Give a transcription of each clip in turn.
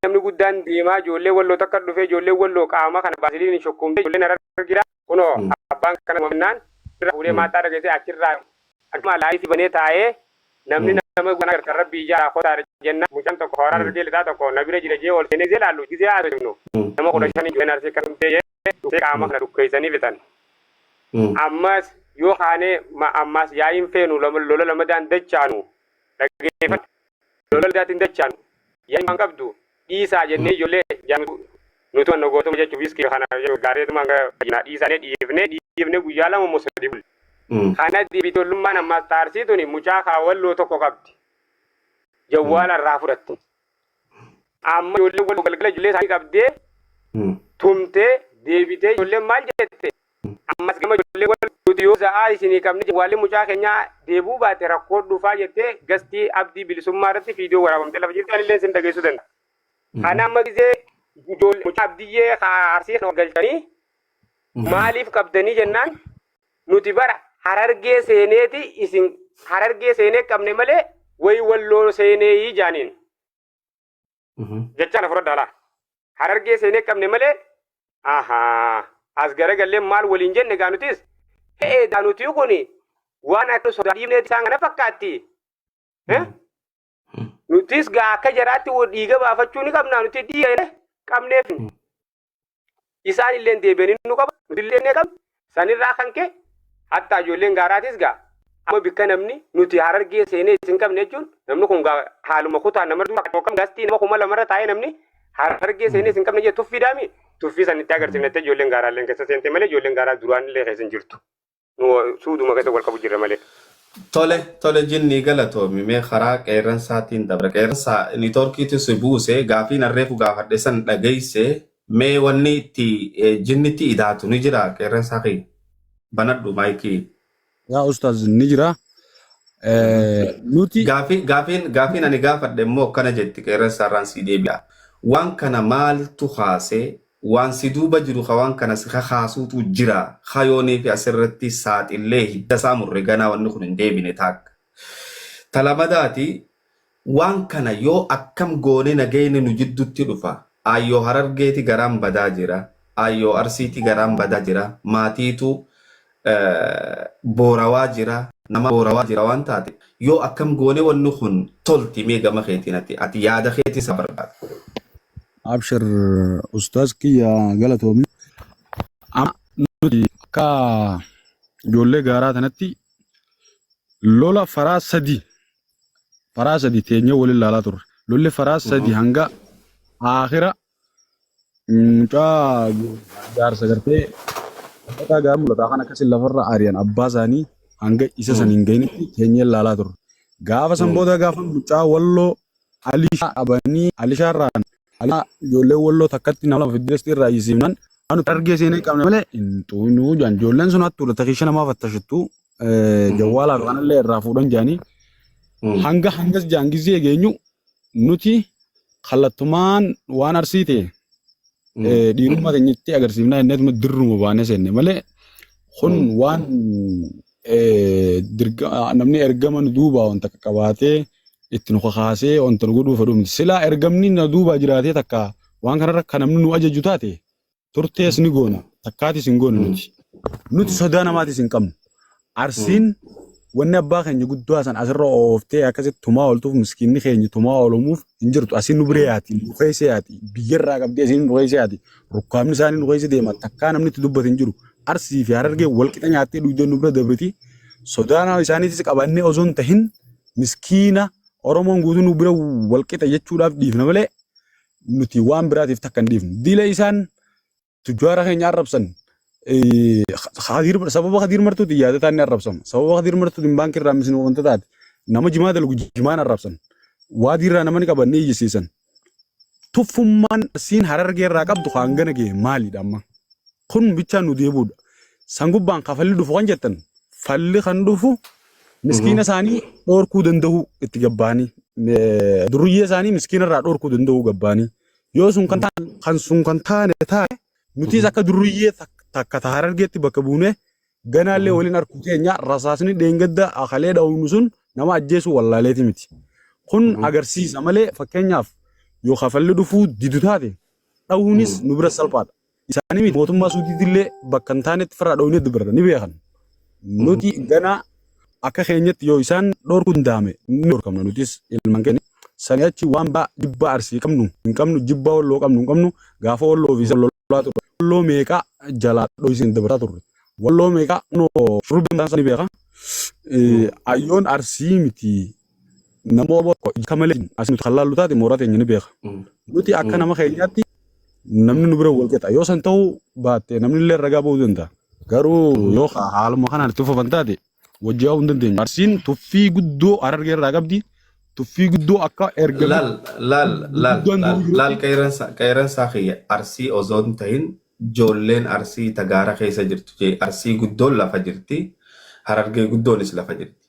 namni guddaan deemaa ijoollee walloo takka dhufee ijoollee walloo qaama kana baasiliin shukkuumtee ijoolleen harargeedha kunoo abbaan kana mannaan irraa fuudhee maaxxaa dhageessee achirraa akkuma laayifii banee taa'ee namni nama guddaan agartan rabbii ijaa kotaa jenna mucaan tokko hooraa harargee lixaa tokko na bira jira jee ol seenee gisee laallu gisee haasofnu nama kudha shanii ijoolleen arsii kan dhumtee jee dhufee qaama kana dhukkeessanii fixan ammas yoo kaanee ammaas yaa'iin feenu lola lamadaan dachaanu dhageeffadha lola dugdaatti hin dachaanu. Yaa imaan qabdu dhiisaa jennee ijoollee jaanutu nu tuman nogootuma jechu wiskii kana jedhu gaareetuma hanga fayyinaa dhiisaanee dhiifnee dhiifnee guyyaa lama immoo sadii bulle. Kana diibitollummaan ammaas xaarsii tuni mucaa kaawwalloo tokko qabdi. Jawwaala irraa fudhatte. Amma ijoollee walloo galgala ijoollee isaanii qabdee tumtee deebitee ijoolleen maal jette Ammas gama ijoollee wal nuti yoo za'aa isinii qabne jawwaalli mucaa keenyaa deebuu baate rakkoo dhufaa jettee gastii abdii bilisummaa irratti fiidiyoo waraabamte lafa jirti anillee sin dhageessuu danda'a. Kana amma gizee ijoollee mucaa abdiyyee haa arsii kana galchanii maaliif qabdanii jennaan nuti bara harargee seeneeti isin harargee seenee qabne malee wayi walloo seenee jaaniin. jechaan afuradhaa laa harargee seenee qabne malee ahaa as garagallee maal waliin jenne gaa nutis ta'ee daa nuti kun waan akka sodaa dhiibnee isaan kana fakkaatti Eh? nutis gaa akka jaraatti wal dhiiga baafachuu ni qabna nuti dhiiga qabneef Isaan illeen deebi'anii nu qaban, nuti illee ni qabna. Sanirraa kan ka'e hatta ijoolleen gaaraatis gaa amma bikka namni nuti harargee seenee isin qabne jechuun namni kun gaa haaluma kutaa nama dura yookaan gaastii nama kuma lamarra taa'ee namni harargee seenee isin qabne jee tuffii daami tuffii san itti agarsiifne jettee ijoolleen gaaraalleen keessa seente malee ijoolleen gaaraa duraan illee keessa hin jirtu. nu suuduma keessa wal qabu jirra malee. Tole tole jinnii galatoomi mee karaa qeerransaatiin dabra qeerransaa niitoorkiitu si buuse gaafiin arreefu gaafadhe san dhageesse mee wanni itti eh, jinnitti idaatu ni jira qeerransaa kee banadhu maayikii. Yaa ustaaz ni jira. Eh, Nuti Gaafii, gaafiin, gaafiin ani gaafadhe immoo akkana jetti qeerransaarraan sii deebi'a. Waan kana maaltu kaase Waan si duuba jiru ka waan kana si kakaasuutu jira. Kayoonii fi as irratti saaxillee hidda isaa murre ganaa wanni kun hin deebine taakka. Ta lamadaati, waan kana yoo akkam goone nageyni nu jiddutti dhufa? Aayyoo Harargeeti garaan badaa jira, Aayyoo Arsiiti garaan bada jira, maatiitu boorawaa jira nama boorawaa jira waan taate yoo akkam goone wanni kun tolti mee gama keetiin ati ati yaada keetii isaa barbaada. Abshir ustaaz kiyya galatoomi. Amma nuti akka ijoollee gaaraa tanatti lola faraa sadii faraa sadii teenyee wal ilaalaa turre. Lolli faraa sadii hanga aakhira Mucaa jaarsa gartee dhagaa gaara mul'ataa kan akkasiin lafarra ari'an abbaa isaanii hanga isa san hin ga'initti teenyee ilaalaa turre. Gaafa san booda gaafa mucaa walloo alishaa qabanii alishaa irraan alishaa ijoollee walloo takkatti nama lama fiddeessi irraa iyyisiifnan waan nuti argee seenee qabne malee hin xuqnu jedhan. Ijoolleen sun hattuudha takiisha namaa fattashattu jawwaalaa fi kanallee irraa fuudhan jedhanii hanga hangas jedhan gizee geenyu nuti kallattumaan waan arsii ta'e eh, dhiirummaa teenyatti agarsiifnaa jenneetuma dirruma baanee seenne malee kun waan eh, dirga- ah, namni ergama nu duubaa wanta akka qabaatee itti nu kakaasee wanta nu godhuu fedhu miti. Silaa ergamni na duubaa jiraatee takka waan kanarra kan namni nu ajaju taate turtees ni goona takkaatis hin goona nuti nuti sodaa namaatis hin qabnu arsiin wanni abbaa keenya guddaa san asirra ooftee akkasitti tumaa ooltuuf miskiinni keenya tumaa oolumuuf hin jirtu asiin nu biree yaati nu keessa yaati biyyarraa qabdee asiin nu keessa yaati rukkaamni isaanii nu keessa deema takkaa namni itti dubbatu hin jiru arsii fi harargee wal qixa nyaattee dhuydee nu bira dabriti sodaa nama isaaniitis qabannee osoo hin tahin miskiina oromoon guutuu nu bira wal qixa jechuudhaaf dhiifna malee nuti waan biraatiif takka hin dhiifnu. Dila isaan tujjaara keenya arrabsan eh, Khadiir Mar- sababa Khadiir Martuutiin yaadataan ni arrabsama. Sababa Khadiir Martuutiin baankii irraa misni wanta taate nama jimaa dalgu jimaan arrabsan. Waadii irraa nama ni qaban ni iyyisiisan. Tuffummaan siin harargee irraa qabdu hangana ga'e maalidha amma? kun bichaan nu deebi'udha. San gubbaan ka falli dhufu kan jettan falli kan dhufu miskiina isaanii dhorkuu danda'u itti gabbaanii eh, durriyyee isaanii miskiina irraa dhorkuu danda'u gabbaanii yoo sun kan taane kan sun kan taane taane nutis akka durriyyee tak- takka ta harargeetti bakka buunee ganaallee waliin harkuu keenya rasaasni dheengadda akalee dha'uun sun nama ajjeesuu wallaaleeti miti. Kun agarsiisa malee fakkeenyaaf yoo kafalli dhufuu didu taate dhahuunis nu bira salphaadha. isaanii miti mootummaa suudiitti illee bakka hin taanetti firraa dhooynee dubarra ni beekan nuti ganaa akka keenyatti yoo isaan dhorkuu danda'ame ni dhorkamna nutis ilmaan keenya sanii achi waan baa jibba arsii qabnu hin qabnu jibba walloo qabnu hin qabnu gaafa walloo fi wallolaa turre walloo meeqaa jalaa dhooysiin dabarsaa turre walloo meeqaa kunoo shurrubbii mataan isaa ni beeka Eh, ayyoon arsii miti nama oboo tokko ija malee hin as nuti kan laallu taate mooraa teenya ni beeka. Nuti akka nama keenyaatti namni nu bira wal qixa yoo san ta'uu baatte namni illee ragaa ba'uu danda'a. Garuu yoo ha- haaluma kanaan itti fufan taate wajjin yaa'uu hin dandeenyu. Arsiin tuffii guddoo harargee irraa qabdi. Tuffii guddoo akka erga Laal, laal, laal, guddaan laal, jiru laal qeeransa, qeeransaa kiyya arsii osoo hin tahin ijoolleen arsii tagaara keessa jirtu jee arsii guddoon lafa jirti harargee guddoonis lafa jirti.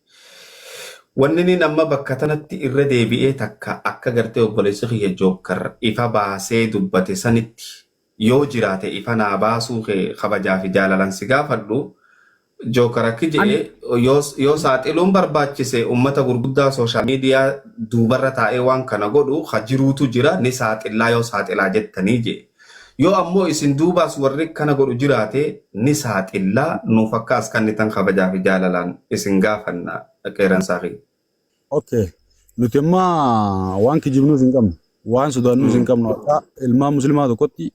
Wanniniin amma bakka tanatti irra deebi'ee takka akka gartee obboleessi kiyya Jookkar ifa baasee dubbate sanitti yoo jiraate ifa naa baasuu kee kabajaa fi jaalalan si gaafadhu, Jookkar akki je'e yoo yoo saaxiluun barbaachise ummata gurguddaa social media duubarra taa'ee waan kana godhu ka jiruutu jira ni saaxillaa yoo saaxilaa jettanii je'e. Yoo ammoo isin duubaas warri kana godhu jiraate ni saaxilla, nuuf akka as kannitan kabajaa fi jaalalaan isin gaafanna. Qeeransaa kiyya. Ok. Nuti amma waan kijibnuus hin qabnu. Waan sodaannuus hin qabnu. Akka ilmaan muslimaa tokkotti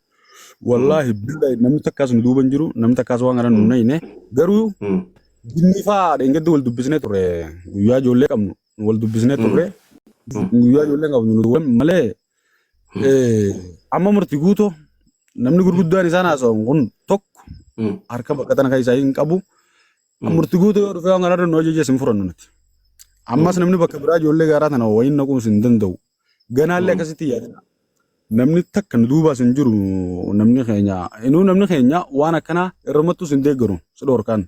wallaahi billa namni takkaas nu duuba hin jiru, namni takkaas waan kana nu hin nayine. Garuu jinnii fa'aa dheengaddi wal dubbisnee turre. Guyyaa ijoollee qabnu wal dubbisnee turre. Guyyaa ijoollee qabnu nu duwwan malee Eh, Amma murti guutuu namni gurguddaan isaan haasa'an kun tokko Mm. harka baqatan kan isaa hin qabu. Mm. Murti guutuu yoo dhufee waan kanarra nu ajaje isin furannu nuti. Ammas namni bakka biraa ijoollee gaaraa tana wayii naquus hin danda'u. Ganaallee Mm. akkasitti yaadina. Namni takka nu duubaas hin jiru namni keenya. Inuu namni keenya waan akkanaa irrumattuus hin deeggaru si dhorkaan.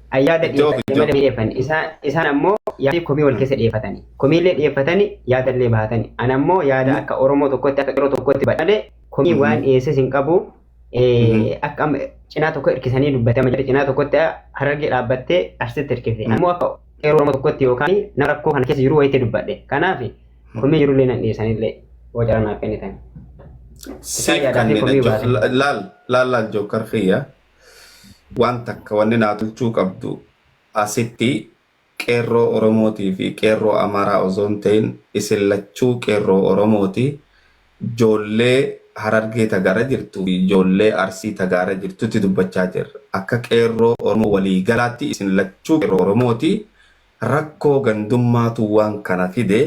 An yaada Itti ofi dhiyeeffadhe malee itti dhiyeeffanne. Isaan, isaan ammoo yaadii komii wal keessa dhiyeeffatani. Komiillee dhiyeeffatani, yaadallee bahatani. An ammoo yaada akka Oromoo tokkotti, akka qeerroo tokkotti badhe malee komii waan dhiyeesses hin qabu. Eh, Akka amma cinaa tokko hirkisanii dubbate. Amma jedhe cinaa tokkotti harargee dhaabbattee arsitti hirkifte. An ammoo akka qeerroo Oromoo tokkotti yookaan nama rakkoo kana keessa jiru wayiitti dubbadhe. Kanaaf komii jirullee nan dhiyeessanillee yoo carraa naaf kennitan. Isaan Siif yaadaa fi kanneen komii baatan. laal laal laal jookkar kiyya waan takka wanni naa tolchuu qabdu asitti qeerroo Oromootii fi qeerroo Amaaraa osoo hin ta'in isin lachuu qeerroo Oromooti joollee Harargee ta gara jirtuu fi joollee Arsii ta gaara jirtutti dubbachaa jirra akka qeerroo Oromoo walii galaatti isin lachuu qeerroo Oromooti rakkoo gandummaatu waan kana fide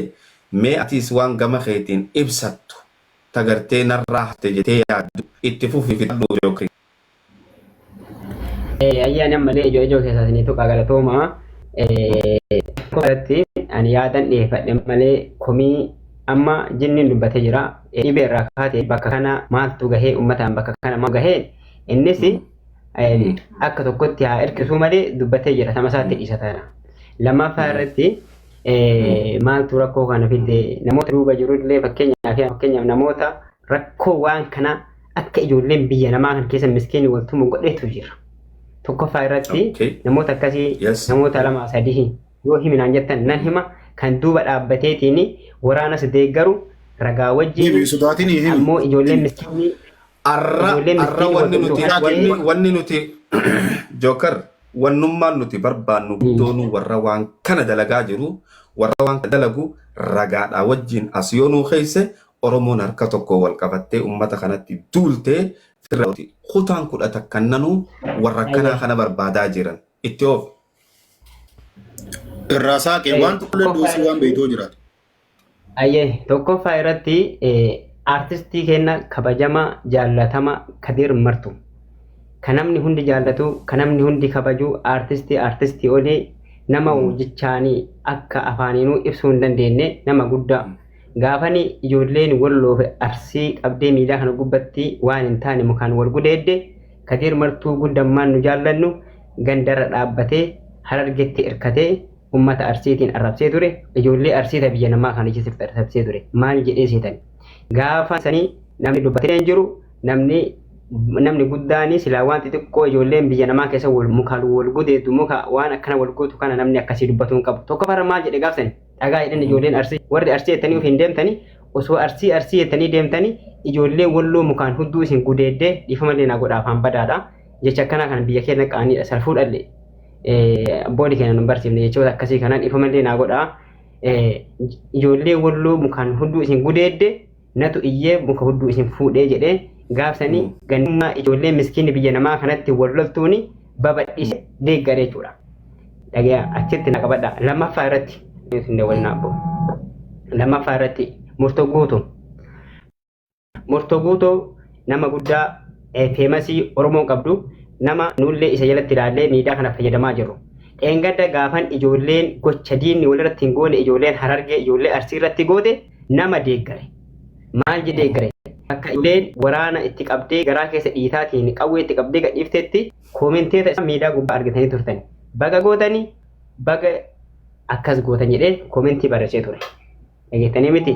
mee atiis waan gama keetiin ibsattu ta gartee narraa hafte jetee yaaddu itti fufi fixadhu Jookrii. Ayyaan ammallee ijoo ijoo keessaa isinii tuqaa galatooma. Irratti ani yaadan dhiyeeffadhe malee komii amma jinniin dubbatee jira. Dhibee irraa kaatee bakka kana maaltu gahee uummataan bakka kana maal gahee innis akka tokkotti haa hirkisuu malee dubbatee jira sama isaatti dhiisa taana. Lammaffaa irratti maaltu rakkoo kana fide namoota duuba jirullee fakkeenyaaf namoota rakkoo waan kana akka ijoolleen biyya namaa kan keessa miskiin wal tumu godhetu jira. Tokkoffaa irratti Okay. namoota akkasii Yes. namoota lama sadii yoo himinaan jettan nan hima kan duuba dhaabbateetiin waraanas deeggaru ragaa Himi wajjin sodaatiin himi. ammoo ijoolleen miskiinii Arra Ijoolleen arra miskiin wanni wal nuti tuqaa wanni ta'ee- wanni nuti Joker wannummaan nuti barbaannu guddoon warra waan kana dalagaa jiru warra waan kana dalagu ragaadhaa wajjin as yoo nuu keesse Oromoon harka tokkoon wal qabattee ummata kanatti duultee firra gooti. Kutaan kudha takkan nanuu warra akkanaa Ayyee. kana barbaadaa jiran. Itti oof. Irraa saaqee waan tokkollee Tokkoffaa duusii waan irratti- beektuu jiraatu. Ayyee tokkoffaa irratti eh, artistii keenya kabajamaa jaallatamaa Kadir Martu. Kan namni hundi jaallatu, kan namni hundi kabaju artistii artistii olii nama jechaanii akka afaaniinuu ibsuu hin dandeenye nama guddaa. Gaafani ijoolleen Walloo fi Arsii qabdee miidaa kana gubbatti waan hin taane mukaan wal gudeedde Kadiir Martuu gun dammaan nu jaallannu gandarra dhaabbatee Harargetti irkatee ummata Arsiitiin arrabsee ture ijoollee Arsii ta biyya namaa kana keessatti arrabsee ture maal jedhee seetan gaafa sanii namni dubbatee hin jiru namni namni guddaani silaa waan xixiqqoo ijoolleen biyya namaa keessa wal mukaan wal gudeeddu muka waan akkana wal gootu kana namni akkasii dubbatuun qabu tokko farra maal jedhe gaafsani Dhagaa jedhan ijoolleen arsii warri arsii jettanii of hin deemtanii osoo arsii arsii jettanii deemtanii ijoollee walloo mukaan hudduu isin gudeeddee dhiifamallee naa godha afaan badaadha. Jecha akkanaa kana biyya keenya qaaniidha salfuu dhalle. Boodi keenya nu barsiifne jechoota akkasii kanaan dhiifamallee naa godha. Ijoollee walloo mukaan hudduu isin gudeeddee natu iyyee muka hudduu isin fuudhee jedhee gaafsanii Mm. gannummaa ijoollee miskiinni biyya namaa kanatti wal loltuuni babadhise deeggare jechuudha. Dhagaa achitti na qabadha. Lammaffaa irratti isin dabalina abbo. Lammaffaa irratti murtoo guutu. Murtoo guutu nama guddaa eh, feemasii Oromoon qabdu nama nuullee isa jalatti ilaallee miidhaa kana fayyadamaa jirru. Dheengadda gaafan ijoolleen gocha diinni walirratti hin goone ijoolleen harargee ijoollee arsii irratti goote nama deeggare. Maal jedhee deeggare? Akka ijoolleen waraana itti qabdee garaa keessa dhiitaatiin qawwee itti qabdee gadhiiftetti koomenteeta isaa miidiyaa gubbaa argitanii turtan. Baga gootanii baga akkas gootan jedhee koomentii barreessee ture. Dhageettanii miti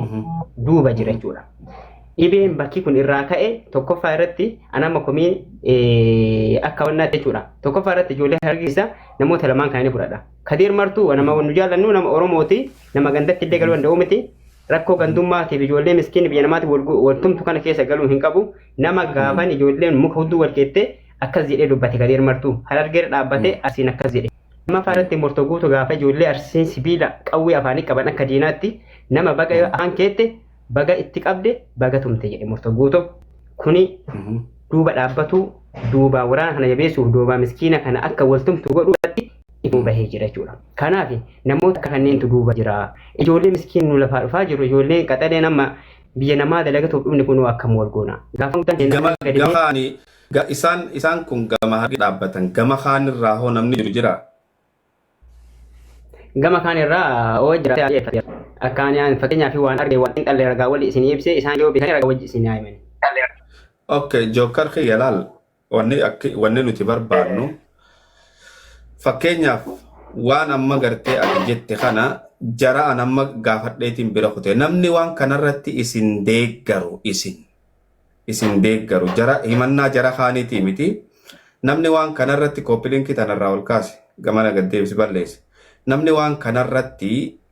duuba jira jechuudha. Dhibeen bakki kun irraa ka'e tokkoffaa irratti anama komii akka wannaatti jechuudha. Tokkoffaa irratti ijoollee hargisa namoota lamaan kana ni fudhadha. Kadiir martuu nama nu jaallannu nama Oromooti. Nama gandatti illee galuu danda'u miti. Rakkoo gandummaatiif ijoollee miskiin biyya namaatti wal gu- wal tumtu kana keessa galuu hin qabu. Nama gaafan ijoolleen muka hudduu wal keettee akkas jedhee dubbate gadi hirmartu. Harargeera dhaabbatee asiin akkas jedhe. Lammaffaa irratti murtoo guutu gaafa ijoollee arsiin sibiila qawwee afaanii qaban akka diinaatti nama baga yoo afaan keette baga itti qabde baga tumte jedhe murto guuto kuni duuba dhaabbatu duuba waraana kana jabeessuuf duuba miskiina kana akka wal tumtu godhu irratti ituu bahee jira jechuudha. Kanaaf namoota akka kanneentu duuba jira. Ijoollee miskiin nu lafaa dhufaa jiru ijoolleen qaxaleen amma biyya namaa dalagatuuf dhumni kunuu akkam wal goona. Gaafa guddaan keenya gama gadi ba'ee gama ani ga- isaan isaan kun gama harki dhaabbatan gama kaan irraa hoo namni jiru jira Gama kaan irraa oo jiraatee haa dhiyeeffatu. Akka ani aan fakkeenyaa fi waan arge waan xiinxalle ragaa wali isinii ibsee isaan yoo beekanii ragaa wajji isinii haa himanii. Okay, Jookar kiyya laal wanni akki wanni nuti barbaannu fakkeenyaaf waan amma gartee ati jette kana jara an amma gaafadheetiin bira kute namni waan kanarratti isin deeggaru isin isin deeggaru jara himannaa jara kaaniitii miti namni waan kanarratti kooppilinkii tanarraa ol kaase gamana gaddeebisi balleesse namni waan kanarratti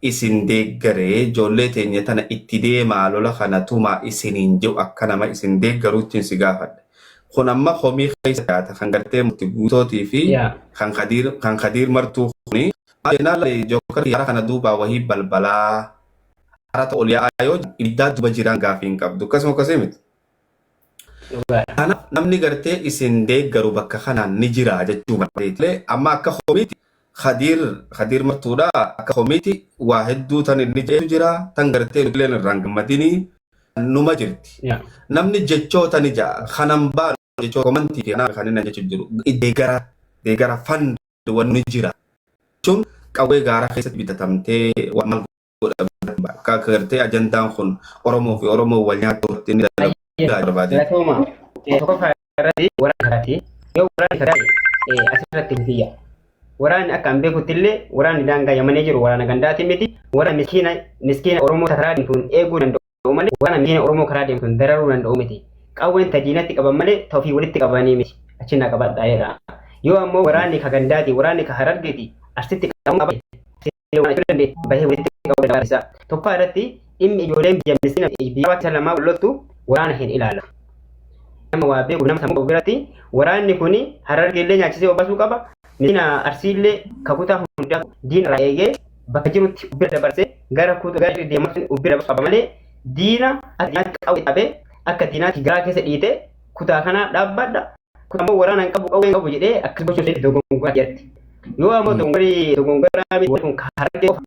isin deeggaree ijoollee teenya tana itti deemaa lola kana tumaa isiniin jiru akka nama isin deeggaruuttiin si gaafadhe kun amma komii keessa yaata kan gartee murti guutootii fi yaa kan kadiir kan kadiir martuu kuni maal jennaan laali jookar yaara kana duubaa wahii balbalaa harata ol yaa'aa yoo jiru ibiddaa duba jiraan gaafii hin qabdu akkasuma akkasii miti. Kanaaf namni gartee isin deeggaru bakka kanaan ni jira jechuu barbaadee amma akka komiiti Khadiir Khadiir martuudha akka komiiti waa hedduu tan inni jedhu jira tan gartee nuti illee irraan gammadinii numa jirti. Namni jechoota ni ja'a kanan baanu jechoota komantii fi kanaaf kanneen jechuun jiru deegara deegara fund waan ni jira jechuun qawwee gaaraa keessatti bitatamtee waan maal godhamu akka gartee ajandaan kun Oromoo fi Oromoo wal nyaachuu irratti inni dalagaa barbaade. Galatooma tokkoffaa irratti waraana karaati. Yoo waraanni karaati asirratti hin fiyya. Waraanni akka an beekutti illee waraanni daangaa yamanee jiru waraana gandaati miti. Waraana miskiina miskiina Oromoo karaa deemtuun eeguu danda'u. ta'u malee waraana miiliyoona Oromoo karaa deemu sun dararuu danda'u miti. Qawween ta diinatti qaban malee ta ofii walitti qabanii miti. Achi na qabadhaa jedha. Yoo ammoo waraanni ka gandaati, waraanni ka harargeeti, arsitti qabamuu qaba. Arsitti waan achuu dandeetti bahee walitti qabuu danda'a barsiisa. Tokko irratti dhimmi ijoolleen biyya miskiina biyya hawaasa lamaa wal loltu waraana hin ilaalatu. Nama waa beeku nama sammuu qabu biratti waraanni kun harargeellee nyaachisee obaasuu qaba. Miskiina arsiillee kakutaa hundaa diina irraa eegee bakka jirutti ubbira dabarsee gara kuuta gara jiru deemaa sun ubbira dabarsu qaba malee diina akka diinaatti qawwee qabee akka diinaatti garaa keessa dhiitee kutaa kanaa dhaabbadha kutaa immoo waraana hin qabu qawwee hin qabu jedhee akkas gochuu ishee dogongoraa jedhatti. Yoo ammoo dogongorii dogongoraa miti kun harargee qofa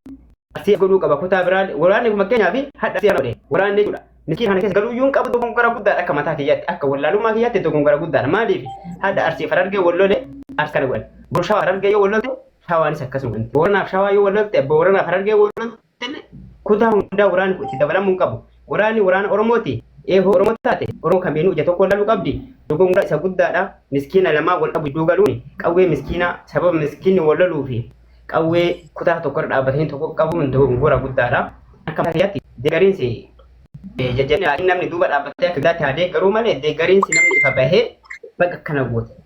arsii godhuu qaba kutaa biraa waraanni kun fakkeenyaaf hadha arsii godhe waraanni jechuudha. Miskiin kana keessa galuu yuun qabu dogongora guddaadha akka mataa kiyyaatti akka wallaalummaa kiyyaatti dogongora guddaadha maaliif hadha arsii harargee wallole arsii kana godhan. Burshaa harargee yoo wallolte Shawaanis akkasuma. Booranaaf shawaa yoo wallolte abbaa Booranaaf harargee wallolte kutaa hundaa waraanni kun itti dabalamuu hin qabu. Waraanni waraana Oromooti. Eehoo Oromoo taate Oromoo kamiinuu ija tokkoon laaluu qabdi. Dogongora isa guddaadha. Miskiina lamaa wal dhabu iddoo galuun qawwee miskiinaa sababa miskiinni wal loluu fi qawwee kutaa tokko irra dhaabbatanii tokko qabuun dogongora guddaadha. Akka mataa kiyyaatti deegariinsi jajjabina namni duuba dhaabbatee akka guddaatti haa deeggaruu malee deegariinsi namni ifa bahee baga akkana goote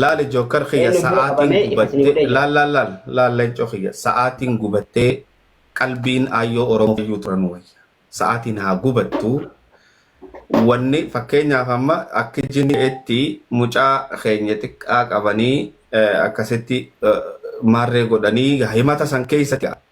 Laali jookar kiyya Eenyu bira sa'aatiin qabamee ifa isin gubattee godhee jira. laal laal laal laal leencoo kiyya sa'aatiin gubattee qalbiin aayyoo oromoo fayyuu turan wayya sa'aatiin haa gubattu wanni fakkeenyaaf amma akka jineetti mucaa keenya xiqqaa qabanii eh, akkasitti eh, maarree godhanii himata san keessatti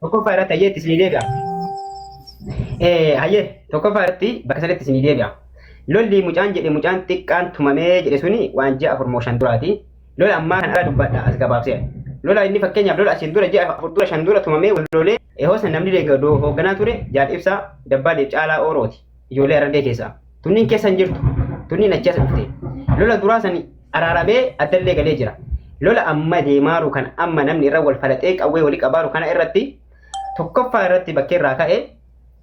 Tokkoffaa irratti hayyee itti isinii deebi'a. Eh, Hayyee tokkoffaa irratti bakka sadiitti isinii deebi'a. Lolli mucaan jedhe mucaan xiqqaan tumamee jedhe suni waan ji'a afur moo shan duraati. Lola ammaa kan ala dubbadha as gabaabsee. Lola inni fakkeenyaaf lola asiin dura ji'a afur dura shan dura tumamee wal lolee ehoosa namni deeggardu hoogganaa ture jaal ibsaa dabbaaleef caalaa oorooti. ijoollee arargee keessaa tunniin keessa hin jirtu tunniin achi as dhufte lola duraa sani araaramee addallee galee jira lola amma deemaaru kan amma namni irra wal falaxee qawwee walii qabaaru kana irratti tokkoffaa irratti bakkee irraa ka'e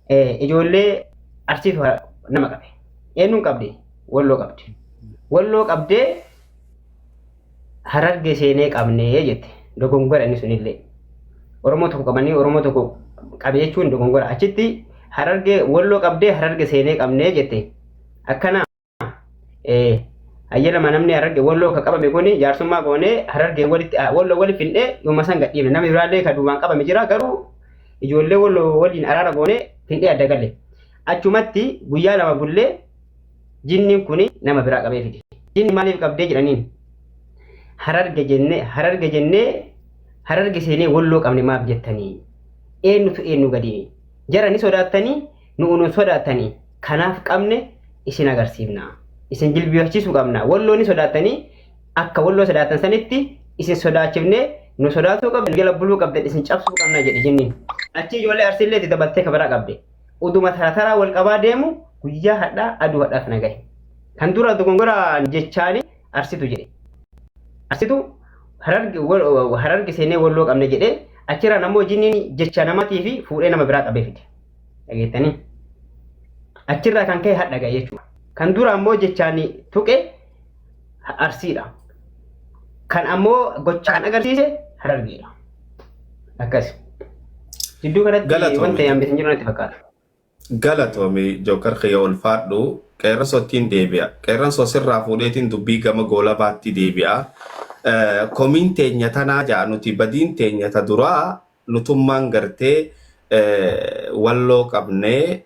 eh, ijoollee arsiitu ha- nama qabe eenyuun qabde walloo qabde walloo qabdee Harargee seenee qabnee jette dogongora inni sunillee. Oromoo tokko qabanii Oromoo tokko qabe jechuun dogongora. Achitti harargee walloo qabdee hararge seenee qabnee jette. Akkana eh, ayyalama namni hararge walloo ka qabame kun jaarsummaa goonee hararge walitti ah, walloo waliif hindhee yooma san gadhiifne. Namni biraallee ka duubaan qabame jira garuu ijoollee walloo waliin araara goonee hindhee adda galle. Achumatti guyyaa lama bullee Jinniin kun nama biraa qabee fide. Jinni maaliif qabdee jedhaniin? Hararge jennee hararge jennee hararge seenee walloo qabne maaf jettanii? Eenyutu eenyu gadini? Jara ni sodaattanii nu'u nun sodaattanii kanaaf qabne isin agarsiifna. Isin jilbiifachiisuu qabna. Walloo ni sodaattanii akka walloo sodaattan sanitti isin sodaachifnee nu sodaatuu qabdan jala buluu qabdan isin cabsuu qabna jedhe jinniin. Achi ijoollee arsiillee itti dabaltee kabaraa qabde. Oduma tara taraa wal qabaa deemu guyyaa hadhaa aduu hadhaa kana gahe. Kan dura dogongoraan jechaani arsitu jedhe. Arsitu hararge wal- hararge seenee walloo qabne jedhee achirraan ammoo jinniin jecha namatii fi fuudhee nama biraa qabee fide. Dhageettanii? Achirraa kan ka'e hadha gahe jechuudha. Kan dura ammoo jechaan tuqe Arsiidha. Kan ammoo gochaan agarsiise Harargeedha. Akkasi. Jidduu kanatti Galatoomi. wanta yaamne hin jiru natti fakkaata. Galatoomi Jookar kiyya ulfaadhu qeerransottiin deebi'a. Qeerransoo sirraa fuudheetiin dubbii gama goolabaatti deebi'a. Eh, Komiin teenya tanaa ja'a nuti badiin teenya ta duraa nutummaan gartee eh, walloo qabnee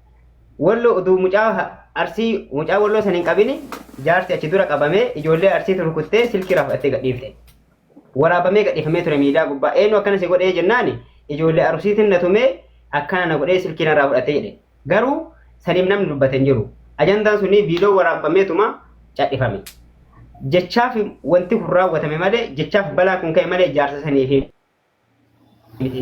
Wallo utuu mucaa arsii mucaa walloo san hin qabini jaarsi achi dura qabamee ijoollee arsiitu rukuttee silkii raafattee gadhiifte. Waraabamee gadhiifamee ture miidiyaa gubbaa eenyu akkana si godhee jennaani ijoollee arsiitiin na tumee akkana na godhee silkii narraa fudhatee jedhe. Garuu saniif namni dubbate hin jiru. Ajandaan sunii viidiyoo waraabbameetuma cadhifame. Jechaaf wanti kun raawwatame malee jechaaf balaan kun ka'e malee jaarsa saniif miti.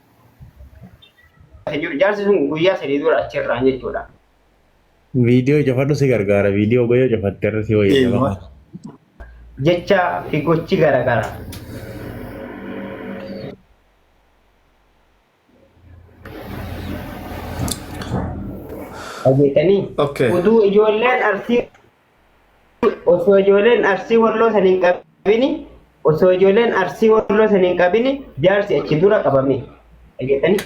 jiru jaarsi sun guyyaa sadii dura achirraan jechuudha. Viidiyoo cufadhu si gargaara. Viidiyoo goyoo cufatte irra si wayya jabaa. Jecha fi gochi garaagara. Dhageettanii Okay. uduu ijoolleen arsii osoo ijoolleen arsii walloo san hin qabini osoo ijoolleen arsii walloo san hin qabini jaarsi achi dura qabame dhageettani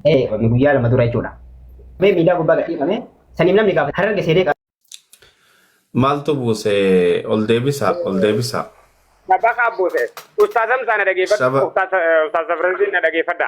ee qabame guyyaa lama dura jechuudha mee miidhaa gubbaa gadhiifame saniif namni gaafa hararge seenee qaba Maaltu buuse ol deebisa ol deebisa. Abbaa kaa buuse. Ustaazam isaa na dhageeffadha. Saba- Ustaaz Safransiin na dhageeffadha.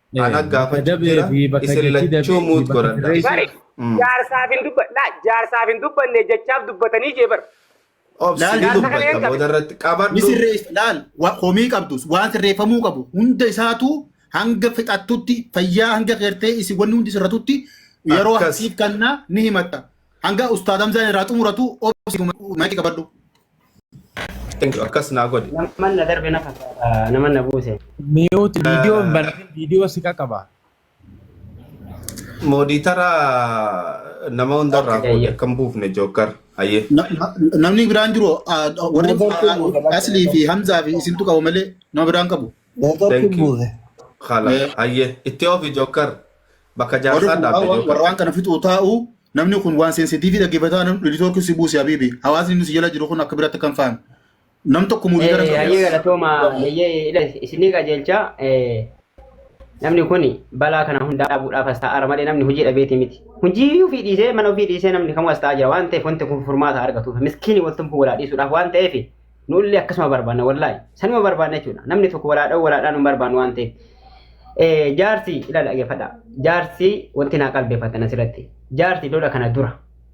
Ana gaafachuu jira. Isin lachuu muut godhadha. Bari Mm. jaarsaaf hin dubbanne laa jaarsaaf hin dubbanne jechaaf dubbatanii jee bar. Obsi Laal, ni laal, dubbata laal, booda irratti ni qabadhu. sirreessa laal wa- komii qabdus waan sirreeffamuu qabu hunda isaatu hanga fixattutti fayyaa hanga keertee isin wanni hundi sirratutti yeroo Akkas. hasiif kannaa ni himatta hanga ustaad hamzaan irraa xumuratu obsi maayikii qabadhu Thank you. Akkas naa godhi. Naman na darbe na fakkaata. Naman na buuse. Miyuuti viidiyoo hin banatin viidiyoo si qaqaba. Mooditara nama hundarraa Akka fuudhe jayya. akka hin buufne jookkar. Hayyee. Na- na- Namni biraan jiru ah, warri Moodel ah, ah, Asli fi Hamzaa fi isintu qabu malee nama biraan qabu. Network Thank you. buuse. Khala. Eh. Hayyee. Itti ofi jokkar. Bakka Warri jaarsaa kun dhaabde waan- jokkar. warraan kana fixuu taa'u namni kun waan seensitiivii dhaggeeffataa namni dhilitoorki si buuse habiibi hawaasni inni si jala jiru kun akka biraatti kan fahame nam tokko murii gara Eh, hayyee galatooma hayyee ila isinii qajeelcha eh, namni kun balaa kana hundaa dhaabuudhaaf as taa'aara malee namni hojii dhabeeti miti hojii ofii dhiisee mana ofii dhiisee namni kamuu as taa'aa jira waan ta'eef wanti kun furmaata argatuuf miskiini waltumfuu walaa dhiisuudhaaf waan ta'eef Nuullee akkasuma barbaanna wallaahi. Sanuma barbaanna jechuudha. Namni tokko walaa dha'u walaa dha'u hin barbaannu waan ta'eef. Eh, Jaarsi ilaala dhaggeeffadha. Jaarsi wanti naa qalbeeffatan asirratti. Jaarsi lola kana dura.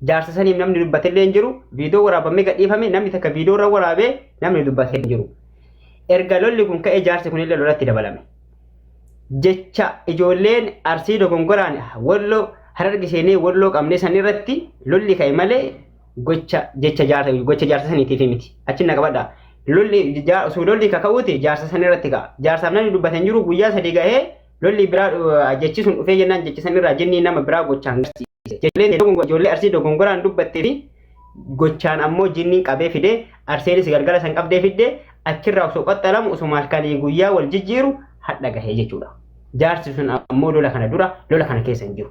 Jaarsa saniif namni dubbatellee hin jiru. Viidiyoo waraabamee gadhiifame namni takka viidiyoo irra waraabee namni dubbate hin jiru. Erga lolli kun ka'ee jaarsi kunillee lolatti dabalame. jecha ijoolleen arsii dogongoraan wallo hararge seenee walloo qabne san irratti lolli ka'e malee gocha jecha jaarsa gocha jaarsa saniitiif miti achi na qabadha lolli jaa- osoo lolli kaka'uuti jaarsa san irratti ka'a jaarsaaf namni dubbatan jiru guyyaa sadii gahee lolli biraa uh, jechi sun dhufee jennaan jechi san irraa jinnii nama biraa gochaan garsiise Ijoolleen dogongo- ijoollee arsii dogongoraan dubbattee fi gochaan ammoo jinniin qabee fide arseenis galgala san qabdee fidde achirraa osoo qaxxalamu osoo halkanii guyyaa wal jijjiiru hadha gahee jechuudha jaarsi sun ammoo lola kana dura lola kana keessa hin jiru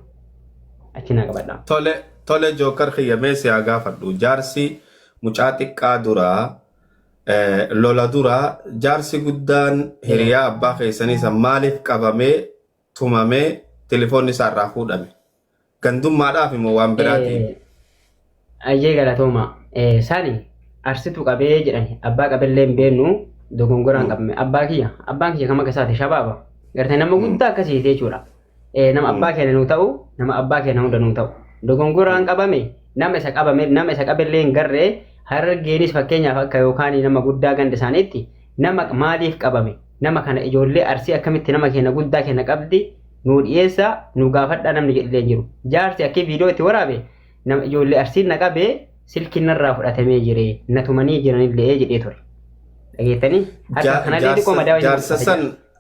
achi naa qabadha Tole Tole joker kiyya mee si haa gaafadhu jaarsi mucaa xiqqaa dura lola dura jaarsi guddaan hiriyaa abbaa keessanii san maaliif qabamee tumamee tilifoonni isaa irraa fuudhame gandummaadhaafi moo waan biraatiifi? Ayyee galatooma. Sani arsitu qabee jedhani abbaa qabellee hin beennu dogongoraan qabame abbaa kiyya abbaan kiyya kama keessaati shabaaba gartee nama guddaa akkasiiti jechuudha. eh, nama abbaa keenya nuu ta'u nama abbaa keenya hunda nuu ta'u dogongoraan qabame nama isa qabame nama isa qabellee hin garree harargeenis fakkeenyaaf akka yookaan nama guddaa ganda isaaniitti nama maaliif qabame nama kana ijoollee arsii akkamitti nama keenya guddaa keenya qabdi nuu dhiyeessa nuu gaafadhaa namni jedhillee hin jiru jaarsi akkii viidiyoo itti waraabe nama ijoollee arsiin na qabee silkiin narraa fudhatamee jire na tumanii jiranillee jedhee ture dhageettanii harka kanallee xiqqoo madaa'u hin Jaarsa san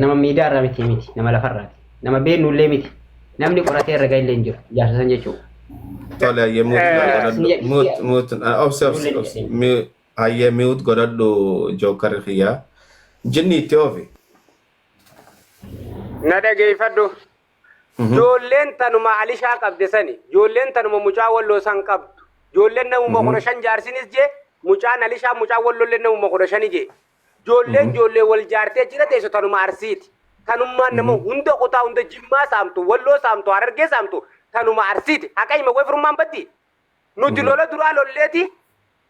nama miidaa irraa miti miti nama lafa irraa nama beeknu illee miti namni qoratee irra ga'e illee hin jiru ijaarsa san jechuudha. Tole hayyee muut godhadhu muut muut obsi obsi obsi hayyee muut godhadhu jookkarri kiyyaa jinni itti oofi. Na dhageeffadhu. Joolleen tanuma alishaa qabde sani. Joolleen tanuma mucaa walloo san qabdu. Joolleen namuma kudha shan jaarsinis jee mucaan alishaa mucaan walloollee namuma kudha shani jee. Ijoolleen ijoollee wal jaartee jira teessu tanuma arsiiti. Tanummaan nama hunda kutaa hunda jimmaa saamtu, walloo saamtu, harargee saamtu tanuma arsiiti. Haqa hima way firummaan baddi. Nuti lola duraa lolleeti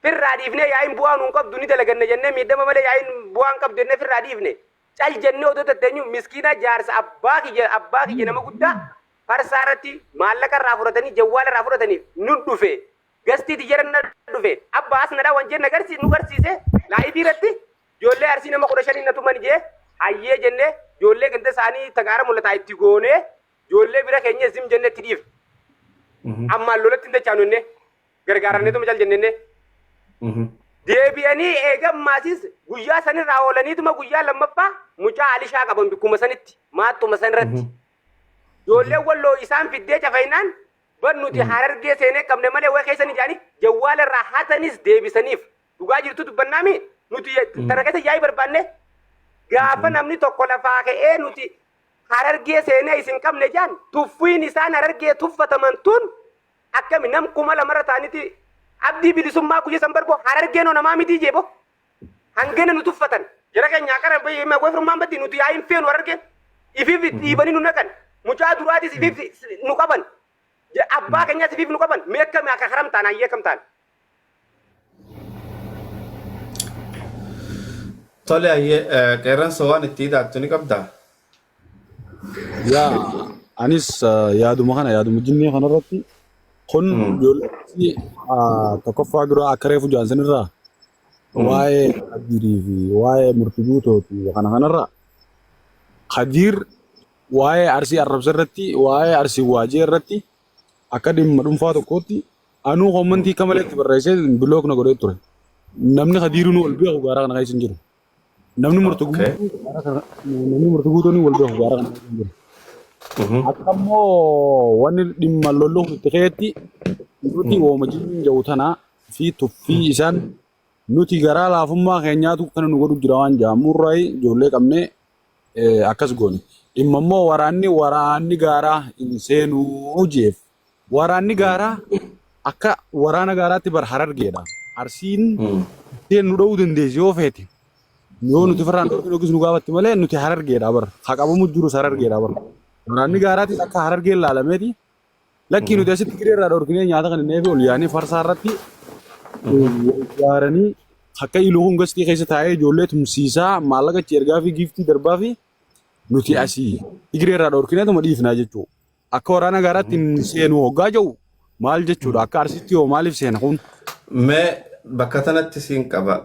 firraa dhiifnee yaa'iin bu'aa nuun qabdu ni dalaganna jennee miidhama malee yaa'iin bu'aa hin qabdu jennee firraa dhiifne. Cal jennee odoo tatteenyu miskiina jaarsa abbaa kiyya abbaa kiyya nama guddaa farsaa irratti maallaqa irraa fudhatanii jawwaala irraa fudhataniif nun dhufe Gastii tiyyara na dhufe abba as nadha wanjeen na garsi nu garsiise laayivii irratti joollee arsii nama kudha shanii na tuman jee hayyee jenne joollee ganda isaanii tagaara mul'ataa itti goonee joollee bira keenya zim jenne itti dhiif ammaan lolatti hin dachaanu jenne gargaaramne tuma cal jenne jenne. deebi'anii eegammaasis guyyaa sanirraa oolaniituma guyyaa lammaffaa mucaa alishaa qaban bikkuma sanitti maattuma sanirratti. Ijoolleen walloo isaan fiddee cafayinaan Bar nuti harargee seenee qabne malee wayi keessan ijaanii jawwaala irraa hatanis deebisaniif dhugaa jirtu dubbannaami nuti tana keessa yaa'ii barbaanne gaafa namni tokko lafaa ka'ee nuti harargee seenee isin qabne jaan tuffiin isaan harargee tuffataman tun akkami nam kuma lamarra taaniti abdii bilisummaa guyya san barbo harargeenoo namaa mitii jeebo Hangana nu tuffatan. Jara keenya akara hima goy firmaan batti nuti yaa hin feenu arge. Ifiif dhiibanii nu naqan. Mucaa duraatis ifiif nu qaban. Ja- Abbaa keenyas ifiif nu qaban. Mee akkami akka karam taana hayyee akkam taana. Tole hayyee qeerransa waan itti hidhaattu ni qabdaa? Yaa anis ah, yaaduma kana yaaduma jinnii kanarratti kun Mm. ijoollee ah, tokkoffaa dura akka reefu jaansan irraa Mm. waa'ee Kadiirii fi waa'ee murti guutooti kana kanarraa Kadiir waa'ee arsii arrabsa irratti waa'ee arsii waajee irratti akka dhimma dhuunfaa tokkootti anuu kommentii akka malee itti barreessee bilook na godhee ture. Namni Kadiiruu nu ol beeku gaara kana keessa hin jiru. Namni murti Okay. guutuu bara kana namni murti guutuun wal gahu bara kana hin jiru. Mhm. Akka immoo wanni dhimma lolluuf itti keetti nuti wooma jiruun jiru tana fi tuffii isaan nuti garaa laafummaa keenyaatu kana nu godhu jira waan jaamurraa ijoollee qabnee eh, akkas goone. Dhimma immoo waraanni waraanni gaaraa hin seenuu jeef. Waraanni gaaraa akka waraana gaaraatti bar harargeedha. Arsiin Mm. isheen nu dha'uu dandeessi yoo feete. Yoo nuti firraan dhorkin yookiis nu gaafatti malee nuti harargeedha bar. Haa qabamu jirus harargeedha bar. Waraanni gaaraatis akka harargeen laalameeti. Lakkii nuti asitti giree irraa dhorkinee nyaata kan hin eefi ol yaanee farsaa irratti ijaaranii akka iluun gastii keessa taa'ee ijoollee tumsiisaa maallaqa itti ergaa fi giiftii darbaa fi nuti asii giree irraa dhorkineetuma dhiifnaa jechuudha. Akka waraana gaaraatti hin seenu hoggaa jedhu maal jechuudha? Akka Arsiitti hoo maaliif seena kun? Mee bakka tanatti siin qaba.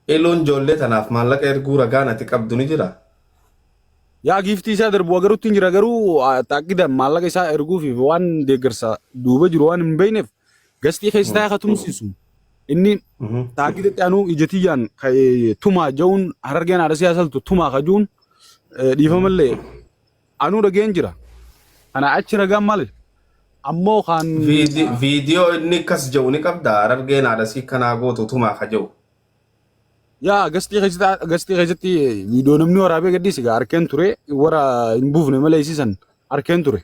Iluun ijoollee tanaaf maallaqa erguu ragaan ati qabdu ni jira? Yaa giiftii isaa darbu agarutti hin jira garuu taakkidaan maallaqa isaa erguufiif waan deeggarsa duuba jiru waan hin beekneef gastii keessa taa'ee akka tumsiisu inni taakkidatti anuu ija tiyyaan tumaa ja'uun harargeen haadha siyaasaltu tumaa kajuun dhiifamallee Anuu dhageen jira. Kana achi ragaan male. Ammoo kaan. Viidi- Viidiyoo inni akkas jedhu ni qabdaa? Harargeen haadha sii kanaa gootu tumaa ka jedhu. Yaa gastii keessatti gastii keessatti viidiyoo namni waraabee gadhiisi gaa harkeen ture warra hin buufne malee isiisan harkeen ture.